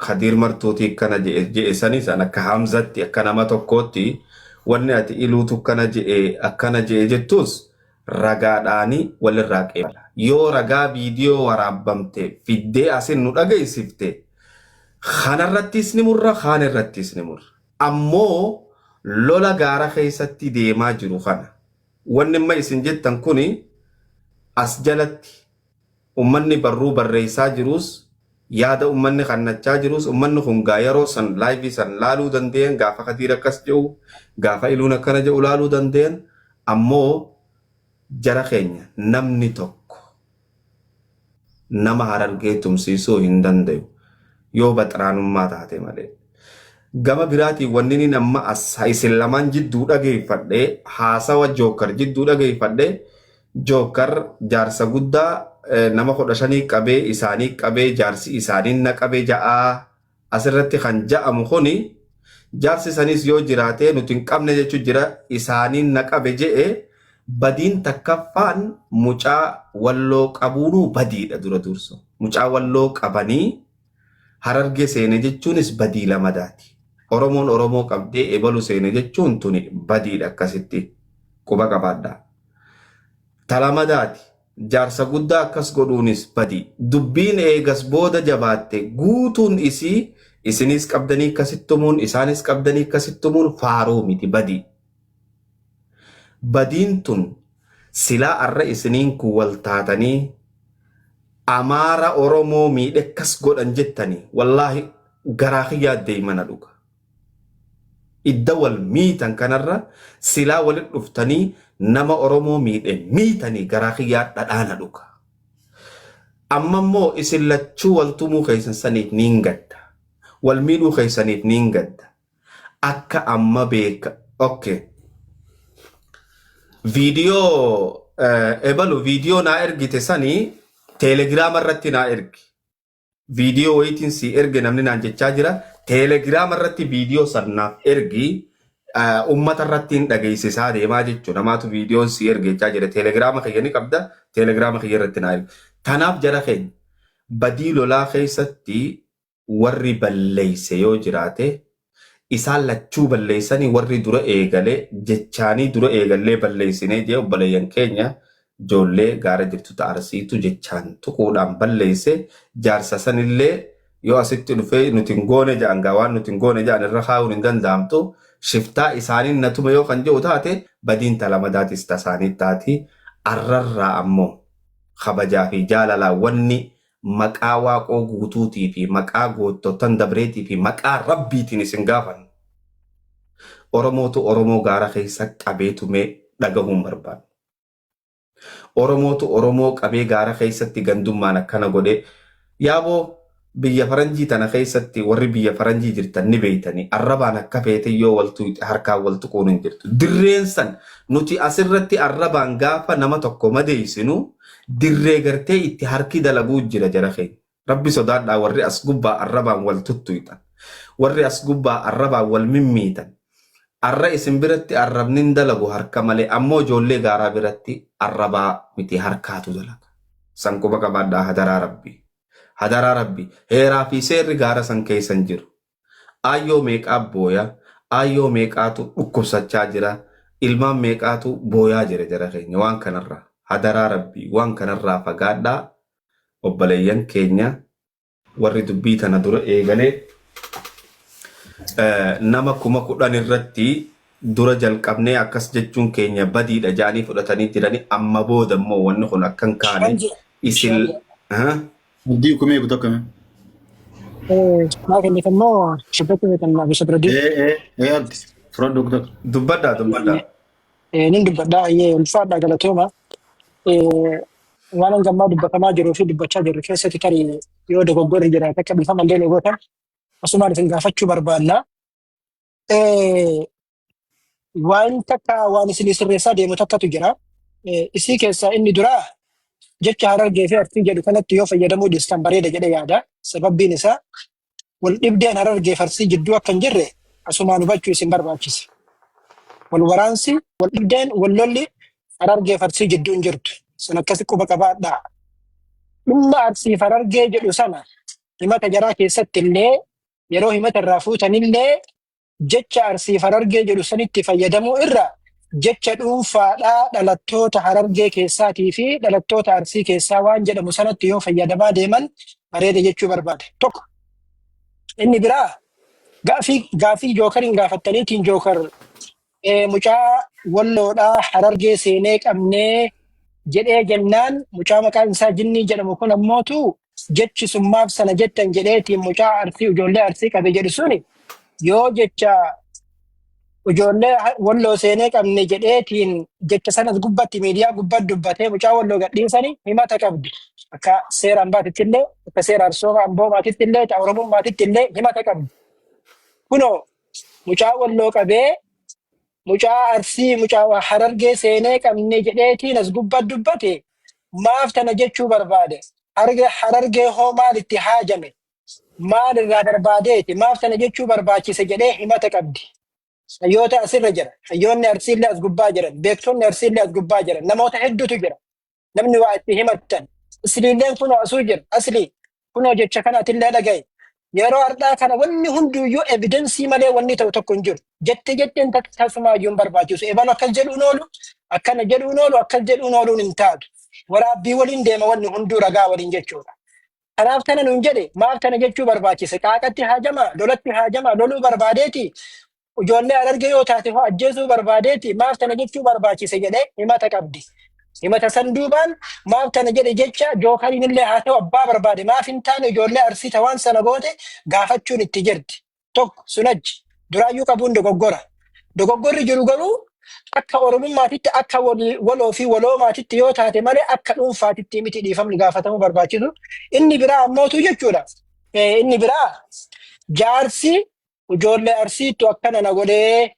Kadiir martuutii akkana je'e je'e sanis an akka Hamzatti akka nama tokkootti wanni ati iluutu akkana je'e akkana je'e jettuus ragaadhaani walirraa qeebala. Yoo ragaa viidiyoo waraabbamte fiddee asin nu dhageessifte kanarrattiis ni murra kaan irrattiis ni murra. Ammoo lola gaara keessatti deemaa jiru kana wanni amma isin jettan kuni as jalatti Ummanni barruu barreessaa jiruus, yaada ummanni kannachaa jiruus, ummanni kun egaa yeroo san live san laaluu dandayan, gaafa Kadiir akkas je'u, gaafa Iluun akkana je'u laaluu dandayan, ammoo jara keenya namni tokko nama Harargee tumsiisuu hin dandayu, yoo baxraanummaa taate malee. Gama biraatiin wanninin amma as isin lamaan jidduu dhageeffadhe, haasawa Jookar jidduu dhageeffadhe, Jookar jaarsa guddaa nama kudha shanii qabee isaanii qabee jaarsi isaaniin na qabe ja'a. Asirratti kan ja'amu kuni jaarsi saniis yoo jiraatee nuti hin qabne jechu jira isaaniin na qabe je'e badiin takkaffaan mucaa walloo qabuunuu badiidha dura duursa. Mucaa walloo qabanii Harargee seene jechuunis badii lamadaati. Oromoon Oromoo qabdee ebalu seene jechuun tuni badiidha akkasitti quba qabaadhaa. Ta lamadaati jaarsa guddaa akkas godhuunis badii. Dubbiin eegas booda jabaatte guutuun isii isiniis qabdanii akkasitti tumuun isaanis qabdanii akkasitti tumuun faaruu miti badii. Badiin tun silaa arra isiniin kun wal taatanii Amaara Oromoo miidhe akkas godhan jettanii wallaahi garaa kiyyaa deymana dhuga. Idda wal miitan kanarra silaa walit dhuftanii nama Oromoo miidhe miitanii garaa kiyyaa dhadhaana dhuga. Amma immoo isin lachuu wal tumuu keysan saniif niin gadda. Wal miidhuu keysaniif niin gadda. akka amma beeka ok viidiyoo ebalu viidiyoo naa ergite sani teelegiraama irratti naa ergi viidiyoo wayitiin si erge namni naan jechaa jira teelegiraama irratti viidiyoo san naaf ergi ummata irratti hin dhageessisaa deemaa jechuu namaatu viidiyoon si erge jechaa jira teelegiraama kiyya ni qabda teelegiraama kiyya irratti naa ergi tanaaf jara keenya badii lolaa keessatti warri balleeyse yoo jiraate isaan lachuu balleeysanii warri dura eegale jechaanii dura eegallee balleeysinee jee obboleeyyan keenya joollee gaara jirtu ta arsiitu jechaan tuquudhaan balleeyse jaarsa sanillee yoo asitti dhufee nuti hin goone ja'an gaa waan nuti hin goone ja'an irra kaayuun hin danda'amtu shiftaa isaanin na tume yoo kan je'u taate badiin ta lamadaatis ta saanii taati arrarraa ammoo kabajaa fi jaalalaan wanni Maqaa Waaqoo Guutuutii fi maqaa goottottan dabreetii fi maqaa Rabbiitiin isin gaafanna. Oromootu Oromoo gaara keessa qabee tumee dhagahuu hin barbaannu. Oromootu Oromoo qabee gaara keessatti gandummaan akkana godhee Yaaboo biyya faranjii tana keessatti warri biyya faranjii jirtan ni beeytanii arrabaan akka feete yoo wal tuuyxe harkaan wal tuquun hin jirtu. Dirreen san nuti asirratti arrabaan gaafa nama tokko madeeysinu dirree gartee itti harki dalaguu jira jara keenya rabbi sodaadhaa warri as gubbaa arrabaan wal tuttuyxan warri as gubbaa arrabaan wal mimmiitan arra isin biratti arrabni hin dalagu harka malee ammoo ijoollee gaaraa biratti arrabaa miti harkaatu dalaga san quba qabaadhaa hadaraa rabbi hadaraa rabbi heeraa fi seerri gaara san keeysan jiru Aayyoo meeqaa booya, aayyoo meeqaatu dhukkubsachaa jira, ilmaan meeqaatu booyaa jira jara keenya waan kanarraa. Hadaraa rabbii waan kanarraa fagaadhaa obboleeyyan keenya. Warri dubbii tana dura eegale nama kuma kudhan irratti dura jalqabnee akkas jechuun keenya badiidha jaanii fudhatanii jirani amma booda immoo wanni kun akkan kaane isin Abdii kumee guutuu akkamii? Maa kenniif immoo shibbatti beekan abisha bira diin. Ee ee ee abdi fudhadhu guutuu. Dubbadhaa dubbadhaa. Nin dubbadhaa ayyee ulfaadhaa galatooma. Waan hangammaa dubbatamaa jiruu fi dubbachaa jirru keessatti tarii yoo dogoggorri jiraate akka dhiifama illee ni gootan asumaan isin gaafachuu barbaanna. Eh, Waan takka waan isin sirreessaa deemu takkatu jira. Eh, Isii keessaa inni duraa jecha harargee fi artii jedhu kanatti yoo fayyadamuu dhiistan bareeda jedhee yaada. Sababbiin isaa wal dhibdeen harargee fi arsii jidduu akka hin jirre asumaan hubachuu isin barbaachisa. Wal waraansi, wal dhibdeen, wal lolli harargee fi arsii jidduu hin jirtu. San akkasi quba qabaadhaa. Dhimma arsii fi harargee jedhu sana himata jaraa keessatti illee yeroo himata irraa fuutanillee jecha Arsiif Harargee jedhu sanitti fayyadamuu irra jecha dhuunfaadhaa dhalattoota Harargee keessaatii fi dhalattoota Arsii keessaa waan jedhamu sanatti yoo fayyadamaa deeman bareeda jechuu barbaade. Tokko inni biraa gaafii gaafii jookariin gaafattaniitiin jookar Eh, mucaa walloodhaa harargee seenee qabnee jedhee jennaan mucaa maqaan isaa jinnii jedhamu kun ammootu jechi summaaf sana jettan jedheetiin mucaa arsii ijoollee arsii qabe jedhu suni yoo jecha ijoollee ha- walloo seenee qabne jedheetiin jecha sanas gubbatti miidiyaa gubbatti dubbatee mucaa walloo gadhiisani himata qabdi. Akka seera ambaatitti illee akka seera arsooma amboomaatitti illee ta'a oromummaatitti illee himata qabdi. Kunoo Mucaa walloo qabee mucaa arsii mucaa waa harargee seenee qabne jedheetiin as gubba dubbate maaf tana jechuu barbaade harge harargee hoo maal itti haajame maal irraa barbaadeeti maaf tana jechuu barbaachise jedhee himata qabdi hayyoota asirra jira hayyoonni arsiillee as gubbaa jiran beektonni arsiillee as gubbaa jiran namoota hedduutu jira namni waa itti himattan asliilleen kunoo asuu jira aslii kunoo jecha kana atillee dhaga'i yeroo har'aa kana wanni hunduyyuu evidensii malee wanni ta'u tokko hin jiru jette jetteen tak- tasumaayyuu hin barbaachisu ebalu akkas jedhuun oolu akkana jedhuun oolu akkas jedhuun ooluun hin taatu waraabbii waliin deema wanni hunduu ragaa waliin jechuudha Kanaaf kana nuun jedhe maaf kana jechuu barbaachise qaaqatti haajamaa lolatti haajamaa loluu barbaadeeti Ijoollee Harargee yoo taate hoo ajjeesuu barbaadeeti maaf tana jechuu barbaachise jedhee himata qabdi. Himata san duubaan maaf tana jedhe jecha jookariin illee haa ta'u abbaa barbaade maaf hin taane ijoollee arsii ta waan sana goote gaafachuun itti jirti. Tokko sun achi duraayyuu qabuun dogoggora. Dogoggorri jiru garuu akka oromummaatitti akka wal- waloo fi waloomaatitti yoo taate malee akka dhuunfaatitti miti dhiifamni gaafatamuu barbaachisu. Inni biraa ammootu jechuudha. Eh, Inni biraa jaarsi Ijoollee Arsiittu akkana na godhee.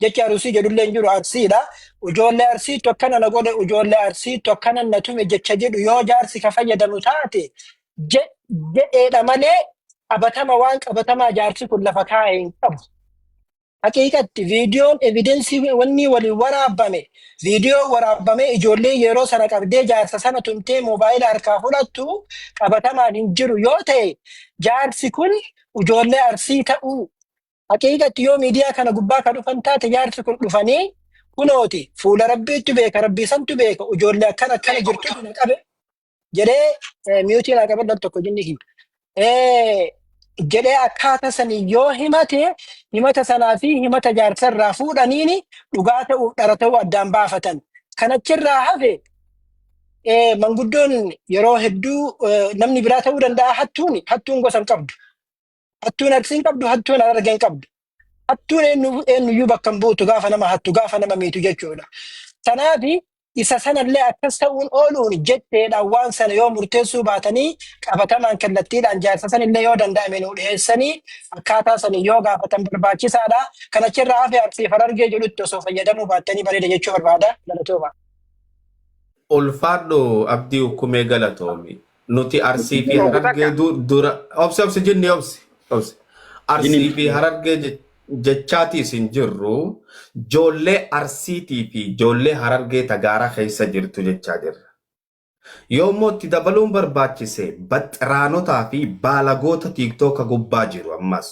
Jechi Arusii jedhullee hin jiru Arsiidha. Ijoollee Arsiittu akkana na godhe, ijoollee Arsiittu akkana na tume jecha jedhu yoo jaarsi ka fayyadamu taate je- jedheedha malee qabatama waan qabatamaa jaarsi kun lafa kaa'e hin qabu. Haqiiqatti viidiyoon evidensii wanni waliin waraabame viidiyoo waraabamee ijoollee yeroo sana qabdee jaarsa sana tumtee moobaayila harkaa fudhattu qabatamaan hin jiru yoo ta'e jaarsi kun ijoollee arsii ta'uu haqiiqatti yoo miidiyaa kana gubbaa ka dhufan taate jaarsi kun dhufanii kunooti fuula rabbiitti beeka rabbii santu beeka ijoollee akkana akkana jirtu na qabe jedhee eh, miyuutii naa qabadhan tokko jinni hin Eh, jedhee akkaataa sanii yoo himate himata sanaa fi himata jaarsa irraa fuudhaniini dhugaa ta'uuf dhara ta'uu addaan baafatan kan achirraa hafe eh, manguddoon yeroo hedduu eh, namni biraa ta'uu danda'a hattuun hattuun gosa hin qabdu. Hattuun arsii hin qabdu, hattuun harargee hin qabdu. Hattuun eenyu- eenyuyyuu bakka hin buutu gaafa nama hattu gaafa nama miitu jechuudha. Kanaaf isa sanallee akkas ta'uun ooluun jetteedhaan waan sana yoo murteessuu baatanii qabatamaan kallattiidhaan jaarsa sanillee yoo danda'ame nu dhiyeessanii akkaataa sanii yoo gaafatan barbaachisaadha. Kanachirraa hafe arsii harargee jedhutti osoo fayyadamuu baattanii bareeda jechuu barbaada. Galatoomaa. Ulfaadhu Abdii Ukkumee galatoomi. Nuti Arsii fi Tokko takka. Harargee du- dura obsi obsi jinni obsi obsi. Arsii Jinni. fi Harargee je- jechaatii isin jirru joollee Arsiitii fi joollee Harargee tagaara keessa jirtu jechaa jirra. Yoo immoo itti dabaluun barbaachise baxxiraanotaa fi baalagoota tiiktooka gubbaa jiru ammas.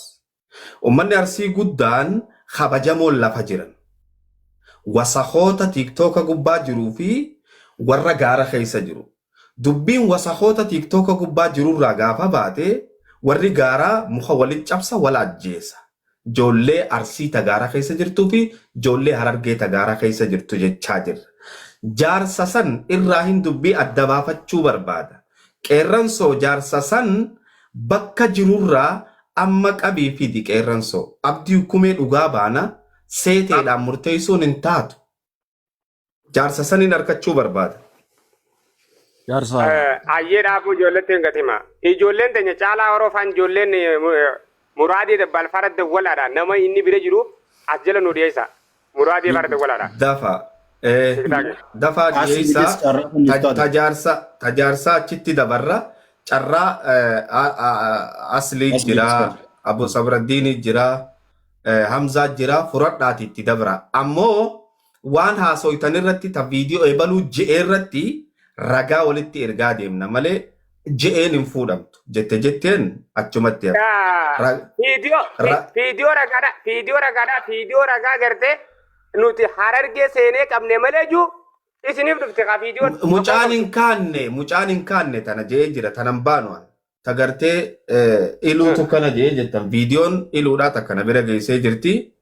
Ummanni Arsii guddaan kabajamoon lafa jiran, wasakoota tiktooka gubbaa jiruu fi warra gaara keessa jiru. Dubbiin wasakoota tiktooka gubbaa jirurraa gaafa baate warri gaaraa muka walitti cabsa wal ajjeesa. Joollee Arsii ta gaara keessa jirtuu fi joollee Harargee ta gaara keessa jirtu jechaa jirra. Jaarsa san irraahin dubbii adda baafachuu barbaada. Qeerransoo jaarsa san Bakka jirurraa amma qabii fidi qeerransoo. Abdii ukkumee dhugaa baana seeteedhaan murteessuun hin taatu. Jaarsa saniin arkachuu barbaada. Jaarsa. Ayyee dhaabuu ijoolleetti hin gatima. Ijoolleen teenya caalaa horofaan ijoolleen muraadii balfara dawwalaadha nama inni bira jiru as jala nu dhiyeessa. Muraa deemaa irratti walaala. Dafa. Eh, Tiktaaki. dafaa As dhiyeessaa immediate carraa kun ta- iftaadha. tajaarsa tajaarsaa achitti dabarra carraa eh, a- a- a- asliit Asliit jira jira. abu sabraddiinii jira eh, hamzaa jira furadhaati itti dabra ammoo waan haasoytan irratti ta viidiyoo ebaluu je'ee irratti ragaa walitti ergaa deemna malee je'een hin fuudhamtu jette jetteen achumatti hafe. Taa- Ra- viidiyoo vi- ra- viidiyoo ragaadha viidiyoo ragaadha viidiyoo ragaa gartee nuti harargee seenee qabne malee juu isiniif dhufte ka viidiyoo Mu- Mucaan hin kaanne mucaan hin kaanne tana je'ee jira tanan baanu an. Ta gartee eh, iluutu kana je'ee jettan viidiyoon iluudhaa takka na bira geessee jirti.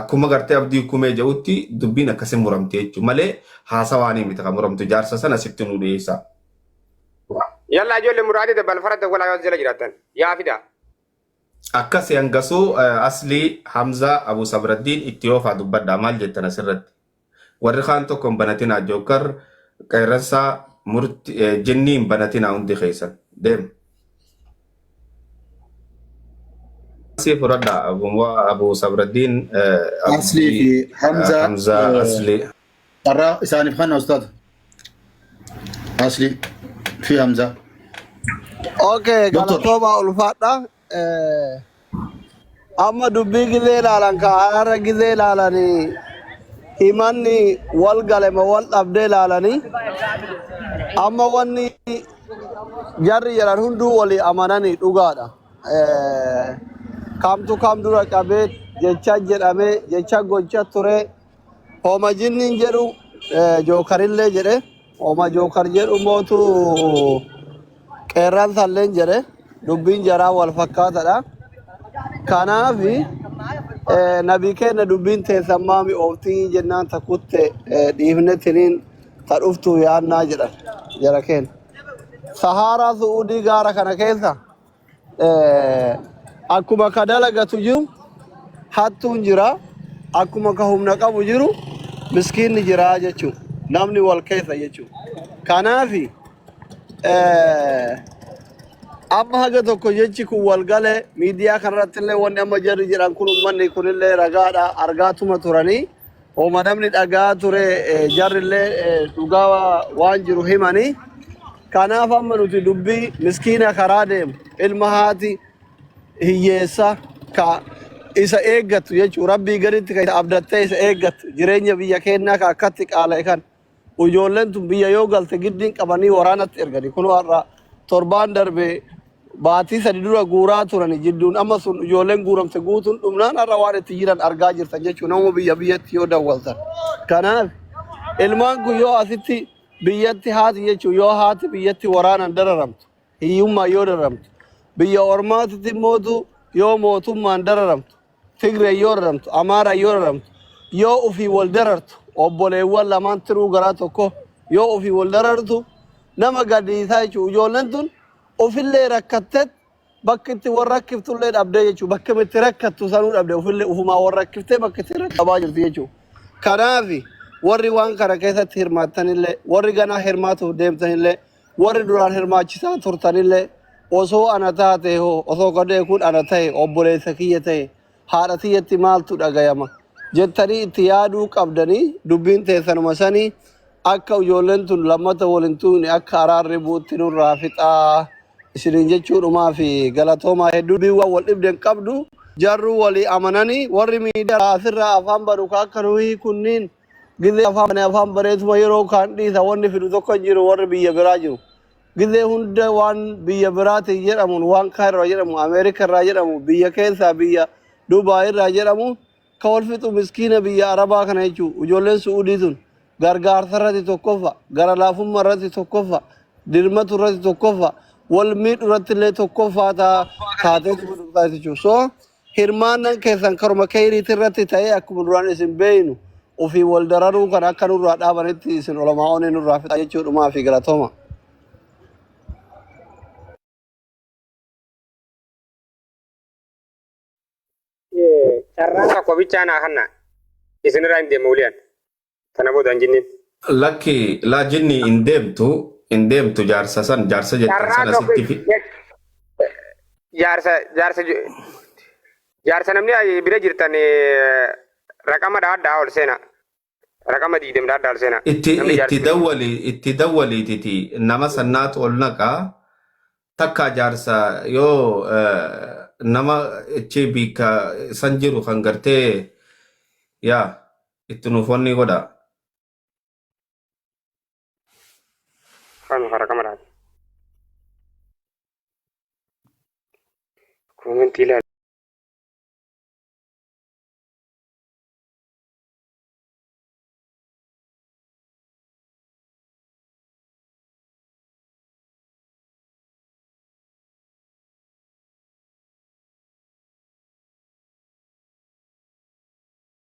akkuma gartee abdii kumee jedhutti dubbiin akkasii muramte jechuun malee haasawaanii miti kan muramtu jaarsa sana sitti nu dhiyeessa. Yalla ijoollee muraadii dabbal fara dawwalaa yoo jala jiraatan yaa fidaa. Akkasi hangasuu aslii Hamzaa Abu Sabraddiin itti oofaa dubbadhaa maal jettan asirratti. Warri kaan tokko hin banatinaa jookkar qeerransaa murti jinnii hin banatinaa hundi keessan deem. Asii fudhadhaa abumwaa abu sabraddiin Aslii fi Hamzaa Hamzaa eh, Aslii. carraa isaaniif kanna ustaaza. Aslii fi Hamzaa. Okay, Doktor. galatoomaa ulfaadha. Eh, Amma dubbii gizee ilaalan ka har'a gizee ilaalanii himanni wal galema wal dhabdee ilaalanii amma wanni jarri jedhan hunduu walii amananii dhugaadha. Eh, Kamtu kam dura qabee jecha jedhamee jecha gocha turee Homa jinniin jedhu eh, jookarillee jedhe. Homa jookar jedhu mootu qeerraan salleen jedhe. Dubbiin jaraa wal fakkaatadha. Kanaaf eh, nabii keenya dubbiin teessan maami ooftii jennaan ta kutte eh, dhiifne tiniin ta dhuftu yaannaa jedhan jara keenya. Sahaaraa Su'uudii gaara kana keessa Eh, Akkuma ka dalagatu jiru hattuun jira. Akkuma ka humna qabu jiru miskiinni jira jechuudha. Namni wal keessa jechuudha. Kanaaf eh, amma haga tokko jechi kun wal gale miidiyaa kanarratti illee wanni amma jarri jedhan kun uummanni kunillee ragaadha argaatuma turanii Homa namni dhaga'aa ture eh, jarrillee eh, dhugaa wa- waan jiru himanii kanaaf amma nuti dubbii miskiina karaa deemu ilma haati hiyyeessa ka isa eeggattu jechuun rabbii gaditti ka isa abdattee isa eeggattu jireenya biyya keenyaa ka akkatti qaala'e kan Ijoolleen tun biyya yoo galte giddiin qabanii waraanatti ergani. Kunoo har'a torbaan darbe baatii sadi dura guuraa turani jidduun amma sun ijoolleen guuramte guutuun dhumnaan har'a waan itti jiran argaa jirtan jechuun nama biyya biyyatti yoo dawwaltan. Kanaaf ilmaan kun yoo asitti biyyatti haati jechuun yoo haati biyyatti waraanaan dararamtu hiyyummaan yoo dararamtu biyya ormaatitti mootu yoo mootummaan dararamtu Tigree yoo raramtu, Amaaraa yoo raramtu, yoo ofii wal darartu, obboleewwan lamaan tiruu garaa tokko yoo ofii wal darartu nama gaddisiisaa jechuudha. Ijoolleen tun ofillee rakkattet bakki itti wal rakkiftullee dhabdee jechuudha. Bakki itti rakkattu sanuu dhabde ofillee ofumaa wal rakkiftee bakki itti rakkattu dhabaa jirti jechuudha. Kanaaf warri waan kana keessatti hirmaattanillee warri ganaa hirmaatuuf deemtanillee Warri duraan hirmaachisaa turtanillee osoo ana taatee hoo osoo gadee kun ana ta'e obboleessa kiyya ta'e haadha tiyyatti maaltu dhagayama jettanii itti yaaduu qabdanii dubbiin teessanuma sanii akka ijoolleen tun lammata wal hin tuqne akka araarri bu'utti nurraa fixaa isiniin jechuudhumaa fi galatoomaa hedduu biiwwan wal dhibde hin qabdu jarruu walii amananii warri miidiyaa asirraa afaan banu ka akka nuhii kunniin Gizee afaan bane afaan bareetuma yeroo kaan dhiisa wanni fidu tokko hin jiru warri biyya biraa jiru. Gizee hunda waan biyya biraatiin jedhamuun waan kaayirraa jedhamu Ameerika irraa jedhamu biyya keessaa biyya Dubaay irraa jedhamu ka wal fixu miskiina biyya Arabaa kana jechuu ijoolleen Su'uudii tun gargaarsa irratti tokkoffa gara laafummaa irratti tokkoffa dirmatu irratti tokkoffa wal miidhu irratti illee tokkoffaa taa- taatee jechuudha. So Hirmaannan keessan karuma keyriiti irratti ta'ee akkuma duraan isin beeynu ofiin wal dararuu kana akka nurraa dhaabanitti isin olamaa'oonni nurraa fixaa jechuu dhumaa fi galatoma. Carraa tokko bichaa naa kanna isinirraa hin deemu wuliyaan. Kana booda hin jinneen. Lakki laa jinni hin deemtu hin deemtu jaarsa san jaarsa jettan Carraa sana tokko sitti fi jaarsa jaarsa ju- jaarsa namni ayi- bira jirtan eh, raqama dhaadhaa ol seena. Raqama diidem dhaadhaa ol seena. itti Namni itti jaarsi dawwali itti dawwaliititi nama sannaatu ol naqa takka jaarsa yoo eh, nama ichi biika san jiru kan gartee yaa itti nuuf onnii godhaa. Kan fara kamaraati. Koomentii ilaali.